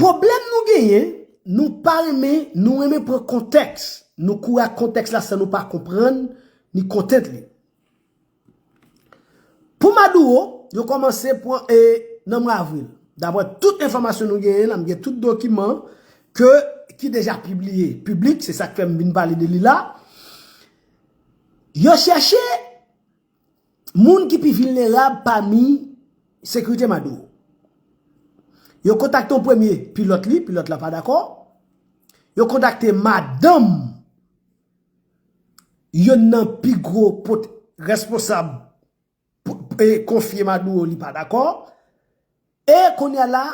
Pwoblèm nou genyen, nou pa renmen, nou renmen pran kontèks, nou kouri ak kontèks la san nou pa konprann ni kontent li. Pou Maduro, yo kòmanse pran e nan mwa avril. Daprè tout enfòmasyon nou genyen la, m gen tout dokiman ke ki deja pibliye, piblik, se sa k fè m vin pale de li la, yo chèche, Moun ki pi vilnerab pami sekirite Maduro. Yo kontakte yon premye pilòt li, pilòt la pa dakò. Yo kontakte madanm youn nan pi gwo pot responsab e konfye Maduro li pa dakò. E kounya la,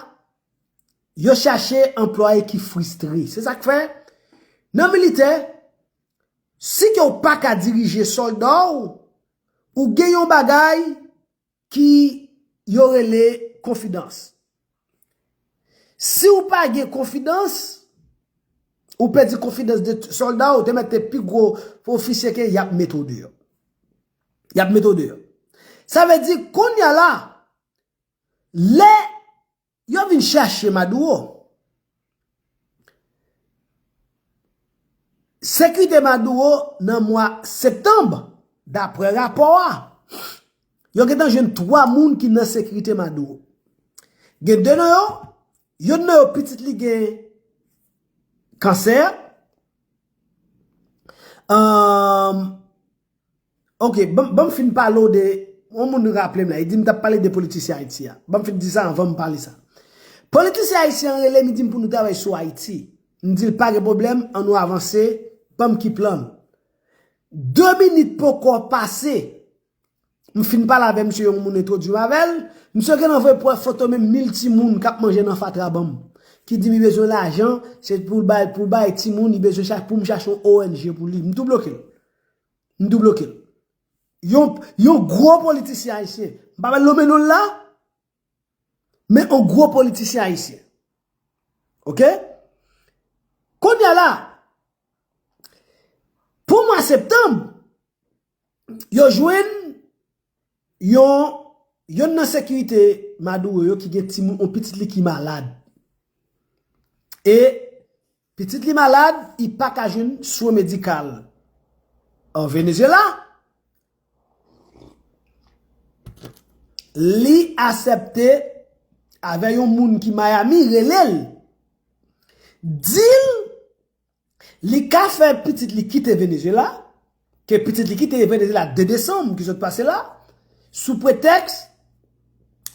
yo chache anplwaye ki fristre. Se sa k fè, nan militè, Si ke w pa ka dirije solda w, ou gen yon bagay ki yo rele konfidans. Si w pa gen konfidans, ou pèdi konfidans de solda w, te mèt te pi gwo ofisye ke y ap mete w deyò. Y ap mete w deyò. Sa vle di, kounye a la, lè Yo vin chache Maduro. Sekite Maduro nan mwa Septanb, dapre rapò a. Yo gentan jwenn 3 moun ki nan sekite Maduro. Gen 2 nan yo, youn nan yo pitit li gen kansè. Ok, banm fin pale w de, yon moun raple m la, li di m tap pale de politisyen Ayiti a. Banm fin di sa anvan m pale sa. Politisyen Ayisyen an rele m li di m pou nou travay sou Ayiti. M di l pa gen pwoblèm, an nou avanse, banm ki plan nou. 2 minit poko pase, m fin pale avè misye yon moun entwodui m avè l, misye gen nan voye pwè foto menm 1000 timoun kap manje nan fatra banm. Ki di m li bezwen lajan, se pou l bay, pou bay timoun, li bezwen chach, pou m chache yon ong pou li. M tou bloke l. M tou bloke l. Yon gwo politisyen ayisyen, m pa pral nome non l la, men yon gwo politisyen ayisyen. Ok? Kounye a la, pou mwa septanm, yo jwenn yon, yon nan sekirite Maduro yo ki gen timoun, yon pitit li ki malad. E. Pitit li malad, i pa ka jwenn swen medikal an Venezyela. Li asèpte avè yon moun ki Miami rele l, di l li ka fè pitit li kite Venezyela. Ke pitit li kite Venezyela 2 desanm ki sot pase la, sou pretèks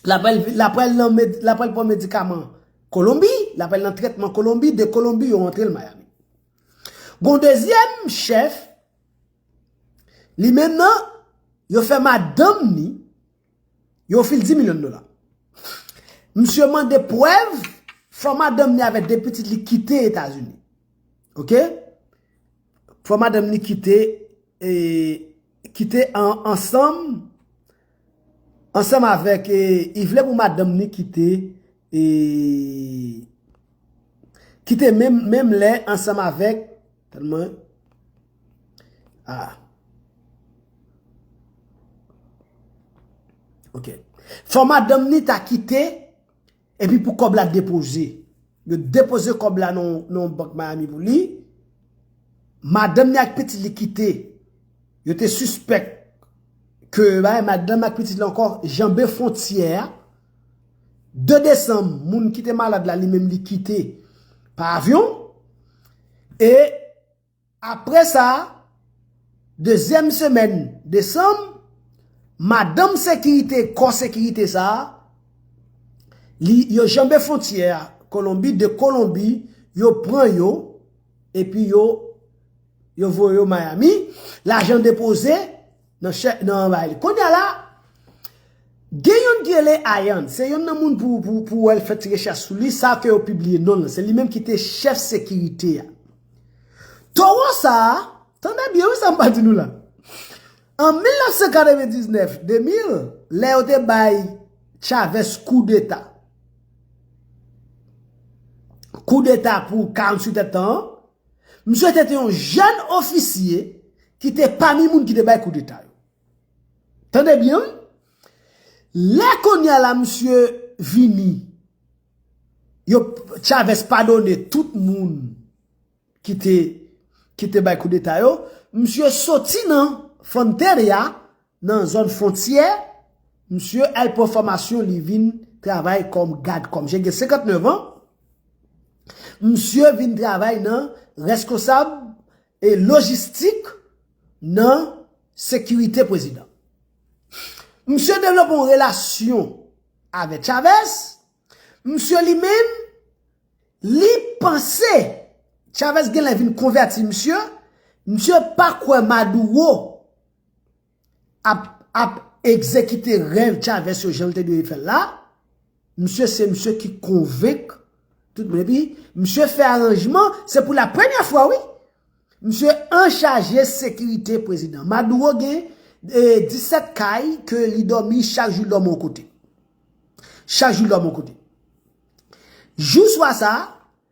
l ap al vin, l ap al nan, l ap al pran medikaman Kolonbi, l ap al nan trètman Kolonbi, de Kolonbi yo rantre l Miami. Gen yon dezyèm chèf, li menm nan, yo fè madanm ni, yo ofri l 10 milyon dola. Misye mande prèv, fò madanm ni avèk 2 pitit li kite Etazini. Ok? Fò madanm ni kite kite ansanm ansanm avèk i vle pou madanm ni kite kite menm menm lè ansanm avèk tèlman a ok fò madanm ni ta kite Epi pou kòb la depoze. Yo depoze kòb la nan yon bank Miami pou li. Madanm ni ak pitit li kite. Yo te sispèk ke madanm ak pitit li ankò janbe fwontyè a. 2 desanm, moun ki te malad la li menm li kite pa avyon. E Apre sa, dezyèm semèn desanm, madanm sekirite kò sekirite sa a, li yo janbe fontyè a Kolonbi, 2 Kolonbi yo pran yo epi yo yo voye yo Miami, lajan depoze. Nan chè nan bay li. Konya la gen yonn ki rele Ayann, se yonn nan moun pou pou pou wèl fè ti rechèch sou li, sa ke yo pibliye nonl lan, se li menm ki te chèf sekirite a. Towo sa, tande byen wi sa mpa di nou la. An 1999, 2000, lè yo te bay Chavez kou deta. Kou deta pou 48 èd tan an, Misye te te yon jèn ofisye ki te pami moun ki te bay koudeta yo. Tande byen wi. Lè konya la misye vini, yo Chavez padone tout moun ki te bay koudeta yo, misye soti nan Fonteria, Nan zòn fontyè, msye al pran fòmasyon li vin travay kòm gad kòm jen gen 59 an, msye vin travay nan reskonsab e lojistik nan sekirite prezidan. Msye devlope yon relasyon avèk Chavez, msye li menm li panse Chavez genlè vin konvèti msye, msye pa kwè Maduro. ap egzekite rèv Chavez yo jan l te dwe fè l la, misye se misye ki konvenk tout moun epi misye fè aranjman, se pou la premyè fwa wi, misye anchaje sekirite prezidan. Maduro gen 17 kay ke li dòmi chak jou l dòmi yon kote. Chak jou l dòmi yon kote. Jou swa sa a.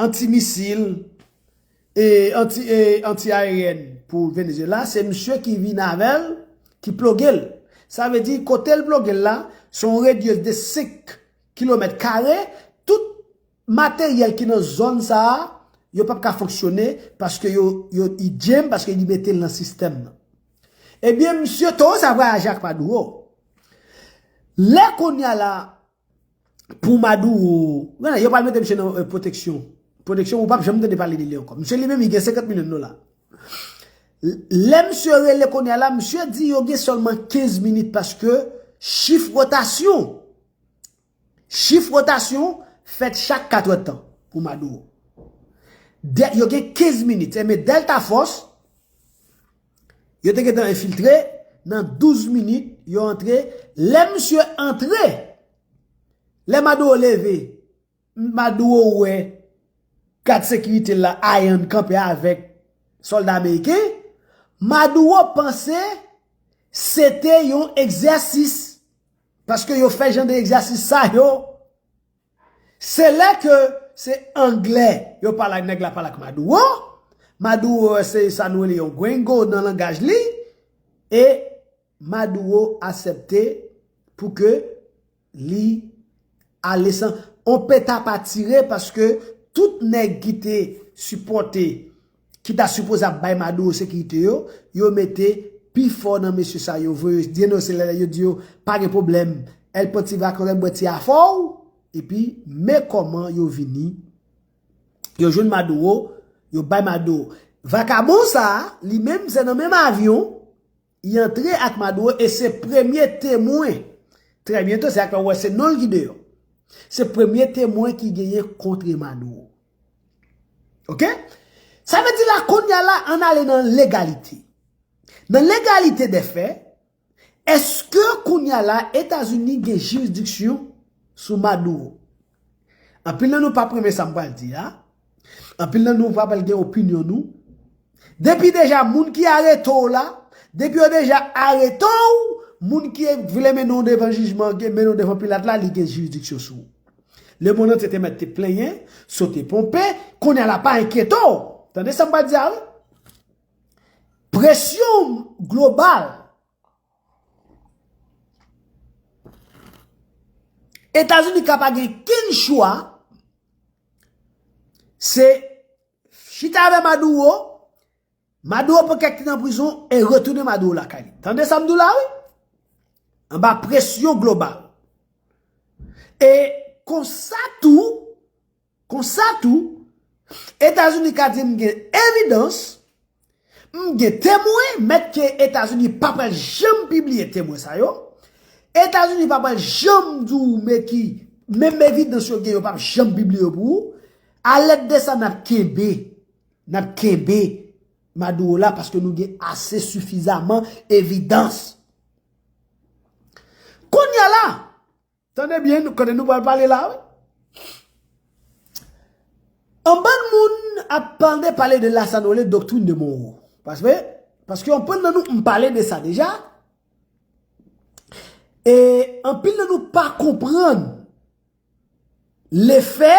Anti-misil e anti-aeryèn pou Venezuela, se misye ki vin avè l, ki ploge l. Sa vle di, kote l ploge l la, se yon radius de 5 kilomèt kare, tout materyèl ki nan zòn sa a, yo pap ka fonksyone, paske yo, yo, li djenm, paske li mete l nan sistèm nan. Ebyen misye, towo sa vwayaje ak Maduro. Lè kounya la. Pou Maduro, gade yo pral mete misye nan pwoteksyon, pwoteksyon ou pap janm tande pale de li ankò. Misye li menm li gen 50 milyon dola. Lè misye rele kounye a la, misye di yo gen sèlman 15 minit paske chif wotasyon, chif wotasyon fèt chak 4 è tan pou Maduro. Yo gen 15 minit, se men Delta Force, Yo te gentan enfiltre, nan 12 minit yo antre, lè misye antre, lè Maduro leve, Maduro wè gad sekirite l la ayann kanpe avèk sòlda ameriken, Maduro panse se te yon egzèsis, paske yo fè jan de egzèsis sa yo Se lè ke se anglè yo pale ak nèg la pale ak Maduro, Maduro se sa nou rele yon gringo nan langaj li, e Maduro asepte pou ke li ale san on peta pa tire paske tout nèg ki te sipòte. ki ta sipoze ap bay Maduro sekirite yo, yo mete pi fò nan mesye sa yo voye denonse lè yo di yo pa gen pwoblèm El Pontivac yo rèk bwè ti afò ou, epi men kòman yo vini yo jwenn Maduro, yo bay Maduro. Vakabon sa a, li menm se nan menm avyon. Y antre ak Maduro e se premye temwen, trè byento se sak fè ou wè se non l ki deyò. Se premye temwen ki genyen kontre Maduro. Ok? Sa vle di la kounya la ann ale nan legalite. Nan legalite dè fè, èske kounya la Etazini gen jirisdiksyon sou Maduro? Anpil nan nou pap renmen sa m pral di a, anpil nan nou pa pral gen opinyon nou, depi deja moun ki arete w la, depi yo deja arete w, moun ki vle mennen w devan jijman, mennen w devan Pilat la, li gen jiridiksyon sou ou. Lemonn antye te mèt te plenyen, sote ponpe, kounye a la pa enkyete w, tande sa m pral di a wi, presyon global. Etazini ka pa gen ken chwa, se chita avè Maduro, Maduro pran kèk ti nan prizon, e retounen Maduro lakay li. Tande sa m di w la wi? Anba presyon global. E konsa tou, Konsa tou, Etazini ka di m gen evidans, m gen temwen, mèt ke Etazini pa pral janm pibliye temwen sa yo, Etazini pa pral janm di w men ki, menm evidans yo gen yo pa p janm pibliye yo pou ou, a lèt de sa n ap kenbe, n ap kenbe Maduro la paske nou gen ase sifizaman evidans. Kounya la! Tande byen kote nou pral pale la wi. Anbann moun ap pande pale de la sa nou rele doktrin de Monro. Paswe, paske anpann nan nou m pale de sa deja. E anpil nan nou pa konprann le fè.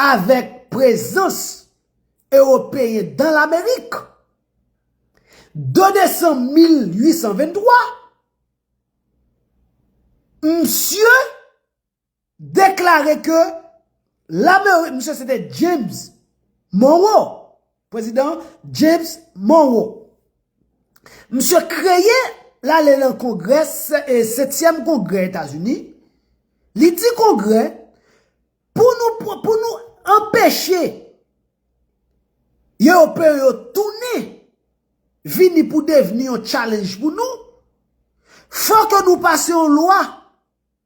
Avèk prezans Ewopeyen dan Lamerik, 2 desanm 1823, msye deklare ke Lamerik, msye se te James Monroe, Prezidan James Monroe. Misye kreye lale lan kongrè e setyèm kongrè Etazini, li di kongrè pou nou pou nou anpeche Eopeyo yo tounen vini pou devni yon challenge pou nou, fò ke nou pase yon lwa.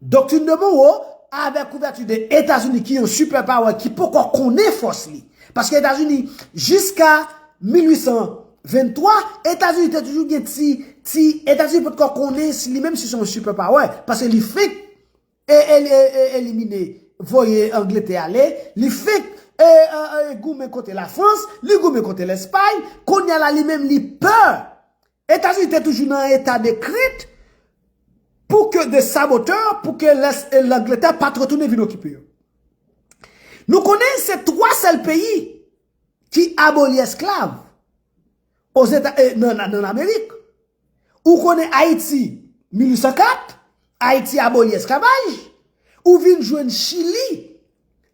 Doctrine de Monroe avèk kouvèti de Etazini ki yon super power ki poko konnen fòs li. Paske Etazini jiska 1823, Etazini te toujou gen ti, ti, Etazini potko konnen si li menm si se yon super power. Paske li fenk elimine, voye Angletè ale, li fenk goumen kote la Frans, li goumen kote Lèspay, kounye a la li menm li pè. Etazini te toujou nan eta de krent pou ke de sabotè pou ke lès e Langletè pat retounen vin okipe yo. Nou konnen se 3 sèl peyi ki aboli esklav ozeta e nan nan nan Amerik. Ou konnen Ayiti 1804, Ayiti aboli esklavaj, ou vin jwenn Chili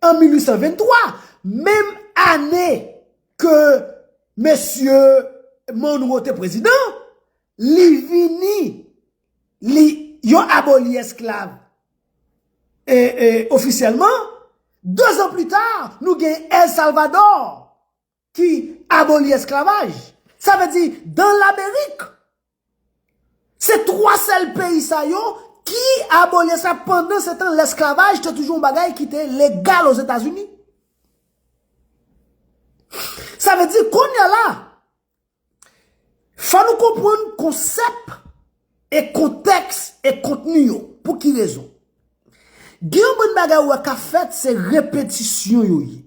an 1823, menm ane. ke mesye Monroe te prezidan, li vini, li, yo aboli esklav, e, e, ofisyèlman, dezan plita, nou gen El Salvador, ki aboli esklavaj. Sa vle di, dan Lamerik, Se 3 sèl peyi sa yo ki abole sa pandan se tan lesklavaj te toujou yon bagay ki te legal ozetazini. Sa ve di konya la, fò nou konpwann konsèp e kontèks e kontni yo. Pou ki rezon? Gen yon bann bagay ou wè ka fèt se repetisyon yo ye.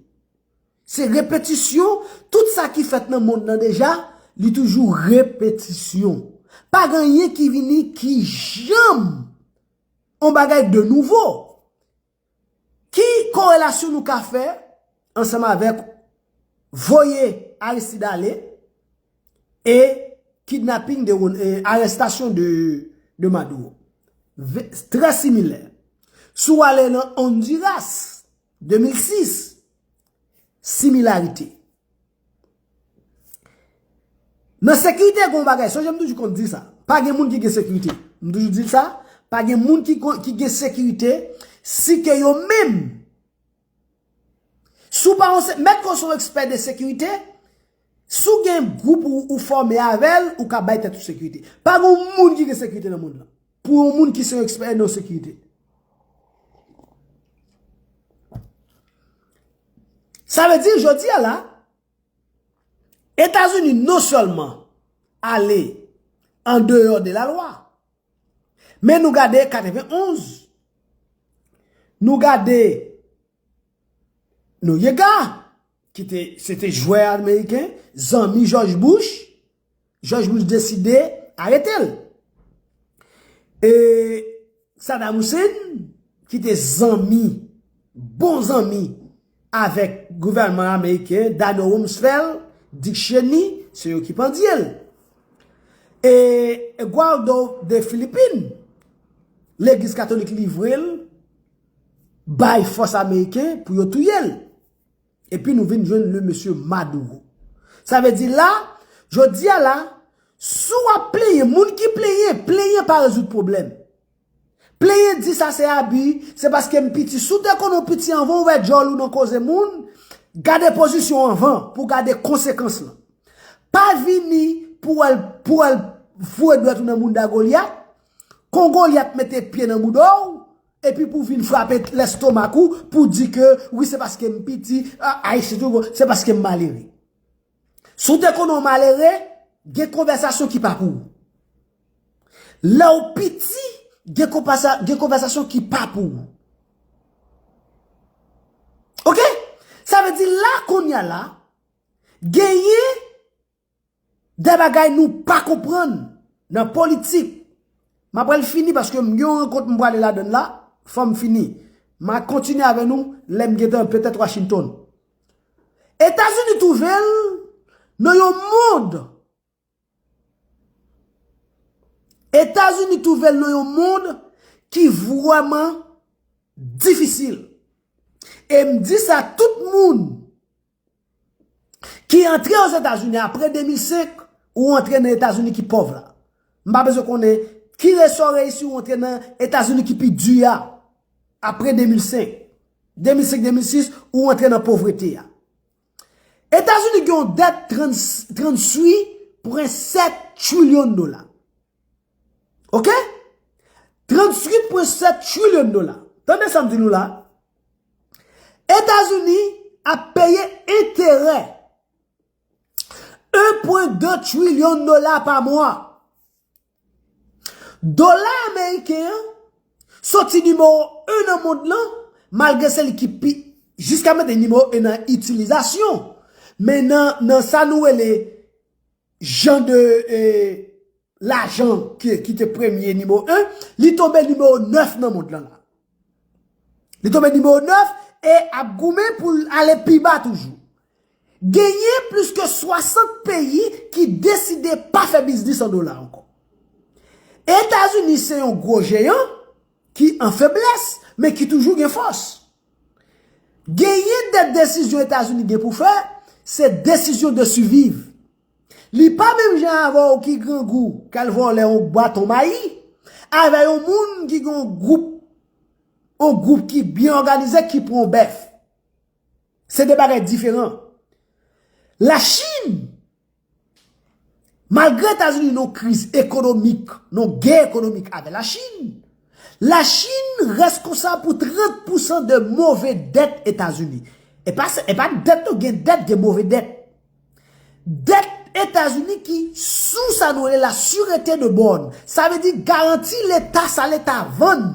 Se repetisyon, tout sa ki fèt nan mond lan deja, li toujou repetisyon. Pa gen anyen ki vini ki janm yon bagay de nouvo. Ki korelasyon nou ka fè ansanm avèk voye Aristide ale e kidnaping de, arestasyon de Maduro? Trè similè. Si w ale nan Honduras, 2006, Similarite Nan sekirite gen yon bagay, sonje m toujou konn di sa, pa gen moun ki gen sekirite. M toujou di sa, pa gen moun ki gen sekirite, si ke yo menm. Sou pa yon se, mèt kon son ekspè de sekirite, Si w gen gwoup ou ou fòme avè l, ou ka bay tèt ou sekirite. Pa gen yon moun ki gen sekirite nan mond lan. Pou yon moun ki se yon ekspè nan sekirite. Sa vle di jodi a la, Etazini non sèlman ale an deyò de la lwa. Men nou gade 91, nou gade Nouyega. ki te, se te jwè ameriken, zanmi Jòj Bouch, Jòj Bouch deside arete l. E Sadam Hussein, ki te zanmi, bon zanmi, avèk gouvèlman ameriken, Dano Rumsfel, Dick Cheney, se yo ki pandye l. E Gualdo de Filipin, legliz katolik livre l, bay fòs ameriken pou yo touye l. Epi nou vin jwenn le mesye Maduro. Sa vle di la, jodi a la, si w ap plenyen, moun ki plenyen, plenyen pa rezoud pwoblèm. Plenyen di sa se abi, se paske m piti. Si w te konnen w piti anvan w ouvè djòl ou nan koze moun, gade pozisyon w anvan pou w gade konsekans lan. Pa vini pou al pou al voye dwèt ou nan mounda Golyat, kon Golyat mete pye nan mouda w, Epi pou vin frape lestomak ou pou di ke wi se paske m piti, ayisyen tou bon, se paske m malere. Si w te konnen w malere, gen konvèsasyon ki pa pou ou. Lè w piti, gen konvèsasyon ki pa pou ou. Ok? Sa vle di la kounye a la, genyen De bagay nou pa konprann nan politik. M aprèl fini paske m gen yon rankont m prale ladan l la, fò m fini. M a kontinye avè nou lè m gentan petèt Washington. Etazini twouve l nan yon mond, Etazini twouve l nan yon mond ki vrèman difisil. E m di sa tout moun. Ki antre ozetazini apre 2005 ou antre nan etazini ki pòv la. M pa bezwen konnen ki resa w reyisi ou antre nan etazini ki pi di a apre 2005. 2005, 2006 ou antre nan povrete a. Etazini gen yon dèt 38.7 trilyon dola. Ok? 38.7 trilyon dola. Tande sa m di nou la. Etazini ap peye enterè 1.2 trilyon dola pa mwa. Dola ameriken an soti nimewo 1 nan mond lan malgre se li ki pi jiska mete nimewo 1 nan itilizasyon men nan sa nou rele Jan de lajan ki te premye nimewo 1, li tonbe nimewo 9 nan mond lan la. Li tonbe nimewo 9 e ap goumen pou l ale pi ba toujou. Genyen plis ke 60 peyi ki deside pa fè biznis an dola ankò. Etazini se yon gwo jeyan ki an feblès men ki toujou gen fòs. Genyen de desizyon Etazini gen pou fè, se desizyon de siviv. Li pa menm jan avè w ki grangou k al vòlè yon baton mayi, avè yon moun ki gen yon gwoup, yon gwoup ki byen òganize ki pran yon bèf. Se de bagay diferan. Lachin Malgre Etazini nan kriz ekonomik, nan gè ekonomik avè Lachin, Lachin reskonsab pou 30 pousan de move dèt Etazini. E pa se, e pa dèt non, gen dèt, gen move dèt. Dèt Etazini ki sou sa nou rele la surete de bòn. Sa vle di garanti leta, sa leta vann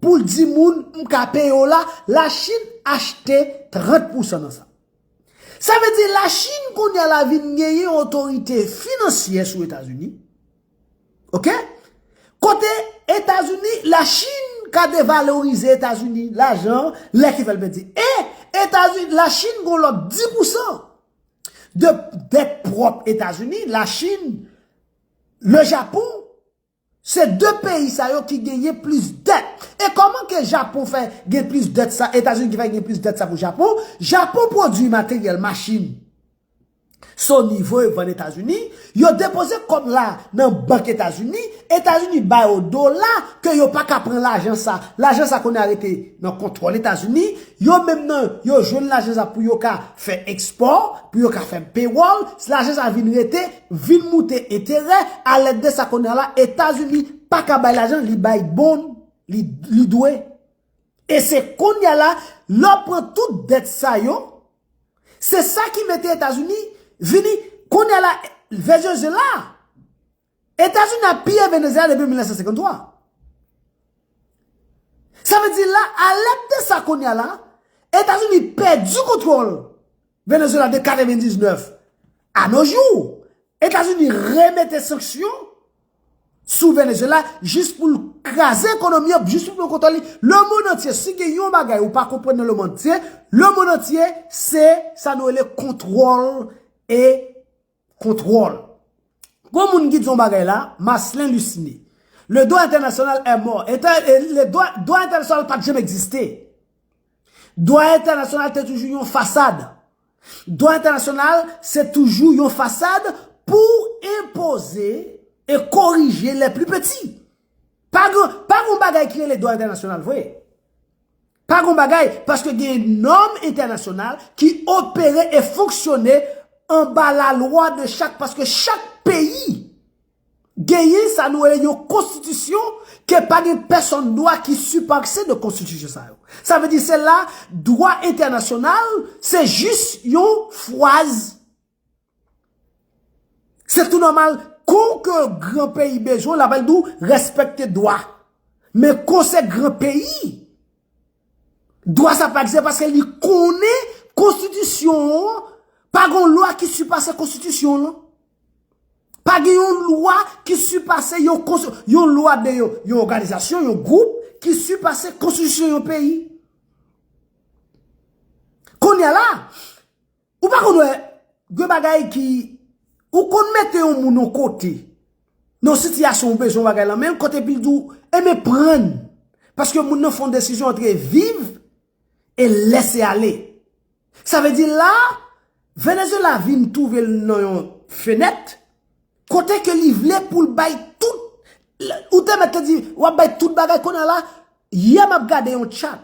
pou l di moun m ka peye w la, Lachin achte 30 pousan nan sa. Sa vle di la Chine kounye a la vin genyen yon otorite finansyè sou Etazini. Ok? Kote Etazini, la Chine ka devalorize Etazini lajan lè ki fèl pèdi. E Etazini, la Chine gon lòt 10 pou 100 de dèt pwòp Etazini, la Chine, le Japon, Se 2 peyi sa yo ki genyen plis dèt. E kòman ke Japon fè gen plis dèt sa, Etazini ki fè gen plis dèt sa pou Japon? Japon pwodui materyèl, machin, so nivo yo vann Etazini, yo depoze kòb la nan bank Etazini, Etazini ba yo dola ke yo pa ka pran lajan sa. Lajan sa kounye a rete nan kontwòl Etazini, yo menm nan yo jwenn lajan sa pou yo ka fè ekspò, pou yo ka fè pewòl, lajan sa vin rete. vin moute enterè a lèd de sa kounye a la etazini pa ka bay lajan li bay bon li dwe e se kounye a la lè w pran tout dèt sa yo se sa ki mete etazini vini kounye a la venezyela etazini ap piye venezyela depi 1953 sa vle di la a lèd de sa kounye a la etazini pèdi kontwòl Venezuela de 99 a nos jours. Etazini remete sanksyon sou Venezuela jis pou l kraze ekonomi an, jis pou l pran kontwòl li. Le mond antye, si gen yon bagay ou pa konprann nan le mond antye, le mond antye se sa nou rele kontwòl e. Kontwòl. Gon moun ki di yon bagay la, Marcelin Luciné. Le droit international est mort. Dwa entènasyonal pat janm egziste. Dwa entènasyonal te toujou yon fasad. Dwa entènasyonal se toujou yon fasad pou enpoze e korije lè pli peti. Pa gon bagay ki rele dwa entènasyonal vre. Pa gon bagay, paske gen nòm entènasyonal ki opere e fonksyone anba lalwa de chak, paske chak peyi genyen sa nou rele yon konstitisyon ke pa gen pèsonn dwa ki siparse de konstitisyon sa yo. Sa vle di se la dwa entènasyonal se jis yon fwaz Se tou nòmal, kou ke gran peyi bezwen, la pral di w respekte dwa. Men kou se gran peyi, dwa sa pa egziste paske li konnen konstitisyon an, pa gen yon lwa ki sipase konstitisyon lan. Pa gen yon lwa ki sipase yon konstitisyon, yon lwa de yon, yon òganizasyon, yon gwoup ki sipase konstitisyon yon peyi. Kounye la, Ou pa konn wè, gen bagay ki, ou konn mete yon moun yon kote, nan sitiyasyon ou bezwen yon bagay lan men, kote epi l di w, e men pran, paske moun nan fè yon desizyon antre viv, e lese ale. Sa vle di la, Venezuela vin twouve l nan yon fenèt, kote ke li vle pou l bay tout, ou te mèt te di, w ap bay tout bagay, kounye a la, yè m ap gade yon chat,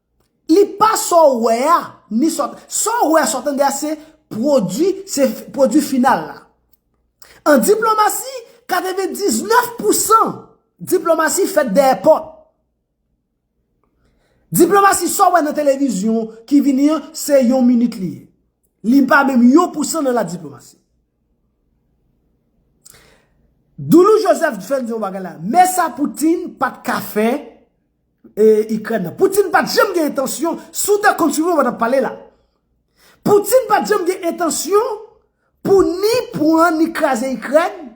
Li pa sa w wè a, ni sa w tande. Sa w wè a, sa w tande a se pwodui, se pwodui final la. An diplomasi, 99 pou san diplomasi fèt dèyè pòt. Diplomasi sa w wè nan televizyon ki vini an, se yon minit li ye. Li pa menm yon pou san nan la diplomasi. Doulou Joseph fè n di yon bagay la, men sa Poutine pa t ka fè. Ikrèn nan. Putin pat janm gen entansyon, si w ta kontinye w pa tap pale la. Putin pat janm gen entansyon pou ni pran ni kraze Ikrèn.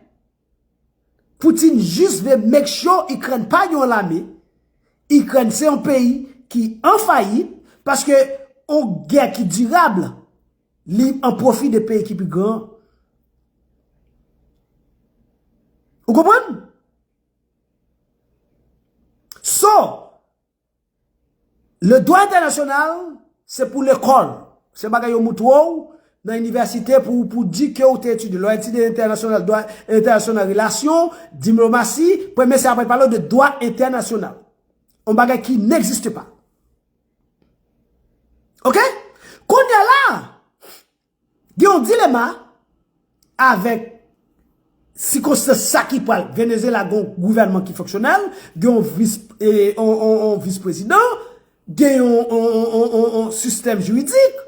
Putin jis vle make sure Ikrèn pa gen yon lame. Ikrèn se yon peyi ki an fayit paske yon gè ki dirab li an pwofi de peyi ki pi gran. Ou konprann? So, le dwa entènasyonal se pou lekòl. Se bagay yo moutre w nan inivèsite pou ou di ke ou te etidye. Lè w etidye entènasyonal, dwa entènasyonal, relasyon, dimlomasi, premye se apre pale w de dwa entènasyonal. On bagay ki n'existe pa. Ok? Kounye la, Gen yon dilema avèk sikonstans sa ki pral. Venezyela gen yon gouvènman ki fonksyonèl, gen yon vis, yon vis prezidan, gen yon sistèm jiridik,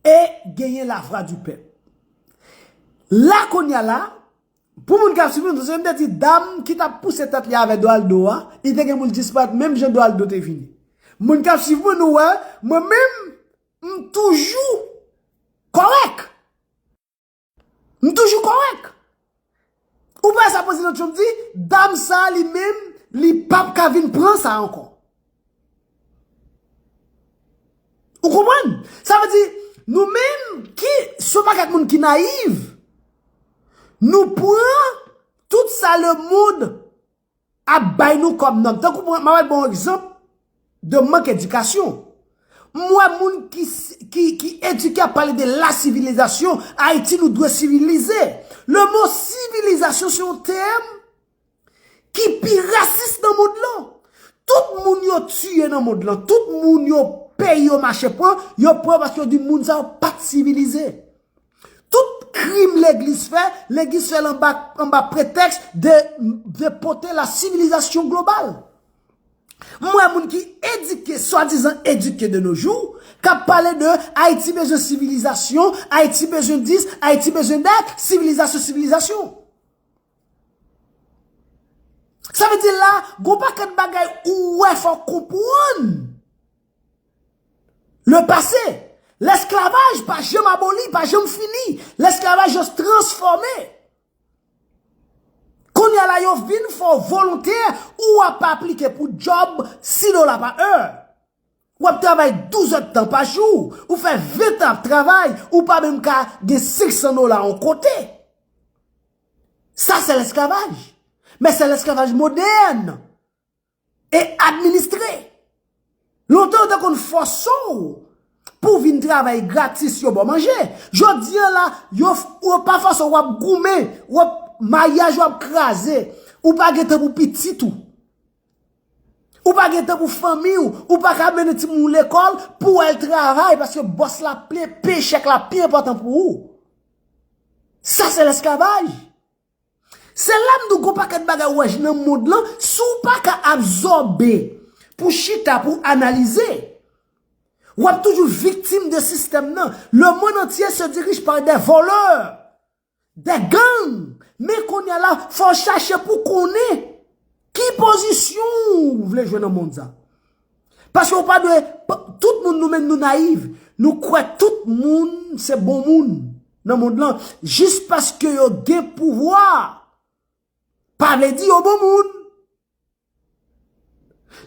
e gen yon la vwa di pèp. La kounya la, pou moun kap sivim, se m te di dam ki tap pouse tèt li avè Doraldo a, li te gen pou l disparèt menm jan Doraldo te vini. Moun kap siv mwen nou wè, mwen menm. M toujou kòrèk. M toujou kòrèk. Ou pa wè sa Prezidan Trump di, dam sa a li menm, li p ap ka vin pran sa a ankò. Ou konprann? Sa vle di, nou menm ki se yon pakèt moun ki nayiv, nou pran tout sa lemonn Ap bay nou kòm nòm. Tankou mwen, mwen wè bon egzanp de mank edikasyon. Mwen wè moun ki edike ap pale de la sivilizasyon, Ayiti nou dwe sivilize. Le mo sivilizasyon se yon tèm ki pi rasis nan mond lan. Tout moun yo tiye nan mond lan, tout moun yo peyi yo mache pran, yo pran paske yo di moun sa yo pat sivilize. Tout krim legliz fè, legiz fèl anba pretèks de pote la sivilizasyon global. M wè moun ki edike, swadizan edike de no jou, kap pale de Ayiti bezwen sivilizasyon, Ayiti bezwen dis, Ayiti bezwen dat, sivilizasyon, sivilizasyon. Sa vle di la, gon pakèt bagay ou wè fòw konpwann. Le pase, lesklavaj pa janm aboli, pa janm fini, lesklavaj just transfòme. Konya la yo vin fè w volontè ou wap pa aplike pou job 6 dola pa è. Wap travay 12 èd tan pa jou, ou fè 20 an ap travay, ou pa menm ka gen 500 dola an kote. Sa se lesklavaj. Men se lesklavaj modèn. E administre. Lontan yo te konn fòse w pou vin travay gratis yo ba w manje. Jodi an la, yo pa fòse w, w ap goumen, w ap, maryaj ou ap kraze, ou pa gen tan pou pitit ou. Ou pa gen tan pou fanmi ou, ou pa ka mennen timoun ou lekòl pou w al travay paske bòs la peye chèk la pi enpòtan pou ou. Sa se lesklavaj. Se la m di w gon pakèt bagay ou wè nan mond lan, si w pa ka absòbe pou chita pou analize, w ap toujou viktim de sistèm nan. Le monde entier se dirige par des voleurs, des gangs, men kounye a la fò w chache pou konnen. Ki pozisyon ou vle jwe nan mond sa? Paske ou pa dwe, tout moun nou menm nou nayiv, nou kwe tout moun se bon moun nan mond lan, jis paske yo gen pouvwa, pa vle di yo bon moun.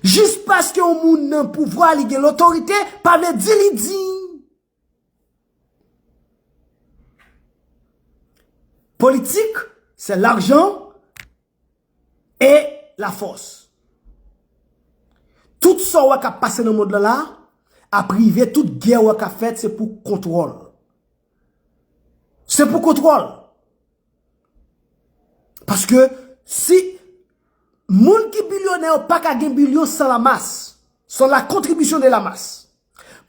Jis paske yon moun nan pouvwa li gen lotorite, pa vle di li diy. Politik se lajan e la fos. Tout sa ou wè kap pase nan mond lan la, ap rive tout gè ou wè kap fèt se pou kontwòl. Se pou kontwòl. Paske si moun ki bilyonè ou pa ka gen bilyon san la mas, san la kontribisyon de la mas.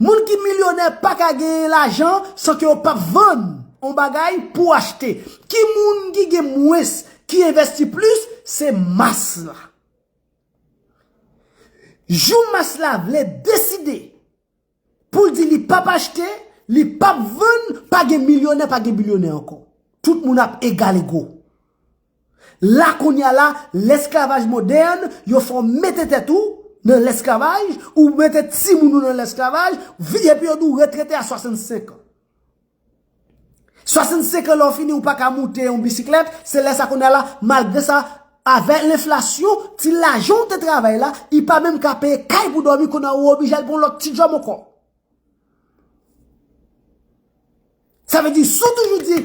Moun ki milyonè pa ka genyen lajan san ke yo pa p vann yon bagay pou achte. Ki moun ki gen mwens ki envèsti plis, se mas la. Jou mas la vle deside pou l di li pa p achte, li pa p vann, pa gen milyonè, pa gen bilyonè ankò. Tout moun ap egal ego. La kounye a la, lesklavaj modèn, yo fè w mete tèt ou nan lesklavaj, ou mete timoun ou nan lesklavaj, vi epi yo di w retrete a 65 an. 65 an lè w fini ou pa ka moute yon bisiklèt, se lè sa kounye a la, malgre sa, avè lenflasyon, ti lajan ou te travay la, li pa menm ka peye kay pou dòmi, kounye a ou oblije al pran yon lòt ti djòb ankò. Sa vle di, si w toujou di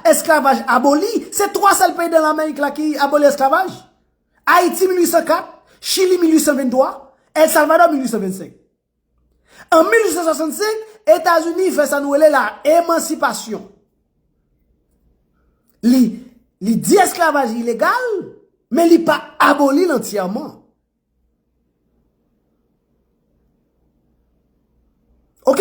esklavaj aboli, se 3 sèl peyi nan Lamerik la ki aboli esklavaj? Ayiti 1804, Chili 1823, El Salvador 1825. An 1865, Etazini fè sa nou rele la emansipasyon. Li, li di esklavaj ilegal, men li pa aboli l antyèman. Ok?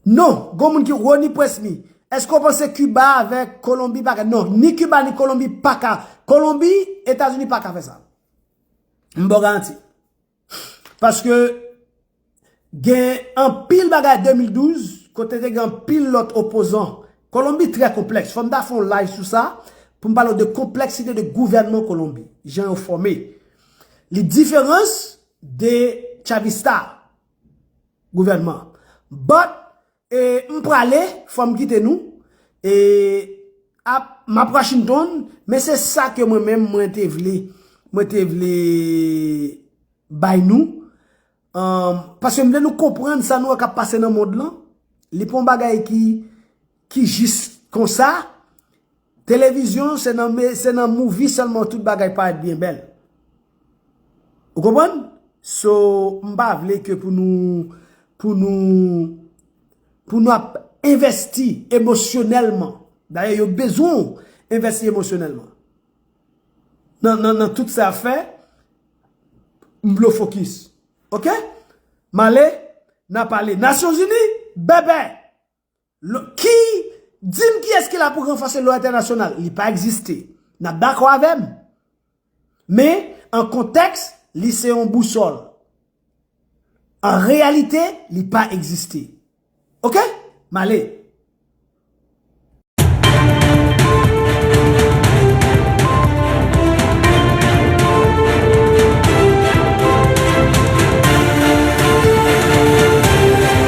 Non, gon moun ki, Rony Presmy, eske w panse Kiba avèk Kolonbi pa ka, non, ni Kiba ni Kolonbi pa ka, Kolonbi, Etazini pa ka fè sa. M ba w garanti. Paske, gen anpil bagay 2012, kote te gen anpil lòt opozan. Kolonbi trè konplèks. Fò m ta fè yon live sou sa, pou m pale w de konpleksite de gouvènman Kolonbi. Jan yo fòme. Li diferans de Chavista. Gouvènman. But e m prale fò m kite nou e ap m ap Washington men se sa ke mwen menm mwen te vle mwen te vle bay nou paske m vle nou konprann sa nou wè k ap pase nan mond lan li pa yon bagay ki Ki jis konsa, televizyon se nan se nan movie sèlman tout bagay parèt byen bèl. Ou konprann? So, m pa vle ke pou nou pou nou pou nou ap envèsti emosyonèlman. Dayè yo bezwen w envèsti emosyonèlman. Nan nan nan tout sa ap fè, m vle w fokis. Ok? M ale, n ap pale. Nasyonzini, bèbè! Ki? Di m kiyès ki la pou ranfòse lwa entènasyonal? Li pa egziste. N ap dakò avè m? Men, an kontèks, li se yon bousòl. An reyalite, li pa egziste. Ok? M ale.